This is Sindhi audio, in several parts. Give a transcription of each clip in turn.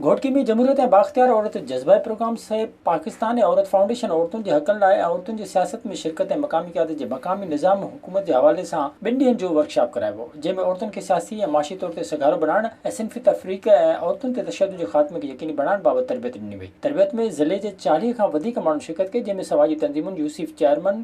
گهوٽڪي ۾ جمهوريت ۽ بااختيار عورت جذبائي پروگرام سهپ پاڪستان ۽ عورت فائونڊيشن عورتن جي حقن لاء ۽ عورتن جي سياست ۾ شرڪت ۽ مقامي قيادت جي مقامي نظام ۽ حڪومت جي حوالي سان ٻن ڏينهن جو ورڪشاپ ڪرايو ويو جنهن ۾ عورتن کي سياسي ۽ معاشي طور تي سگهارو بڻائڻ ۽ صنفي تفريق ۽ عورتن تي تشدد جي خاتمي کي يقيني بڻائڻ بابت تربيت ڏني وئي تربيت ۾ ضلعي جي چاليهه کان وڌيڪ ماڻهن شرڪت ڪئي جنهن ۾ سماجي تنظيمن يوسف چيئرمن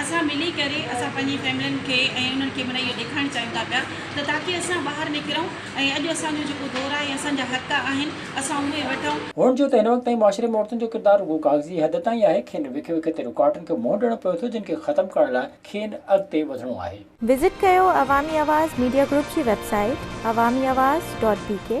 اسان ملي ڪري اسان پنهنجي فيملين کي ۽ انهن کي معنيٰ اهو ڏيکارڻ چاهيون ٿا پيا ته تاڪي اسان ٻاهر نڪرون ۽ اڄ اسان جو جيڪو دور آهي اسان جا حق آهن اسان اهي وٺون. هونئن جو ته هن وقت تائين معاشري ۾ عورتن جو ڪردار رڳو ڪاغذي حد تائين آهي، کين وک وک تي رڪاوٽن کي منهن ڏيڻو پوي ٿو جن کي ختم ڪرڻ لاء کين اڳتي وڌڻو آهي. وزٽ ڪيو عوامي آواز ميڊيا گروپ جي website Awami Awaz dot بي ڪي.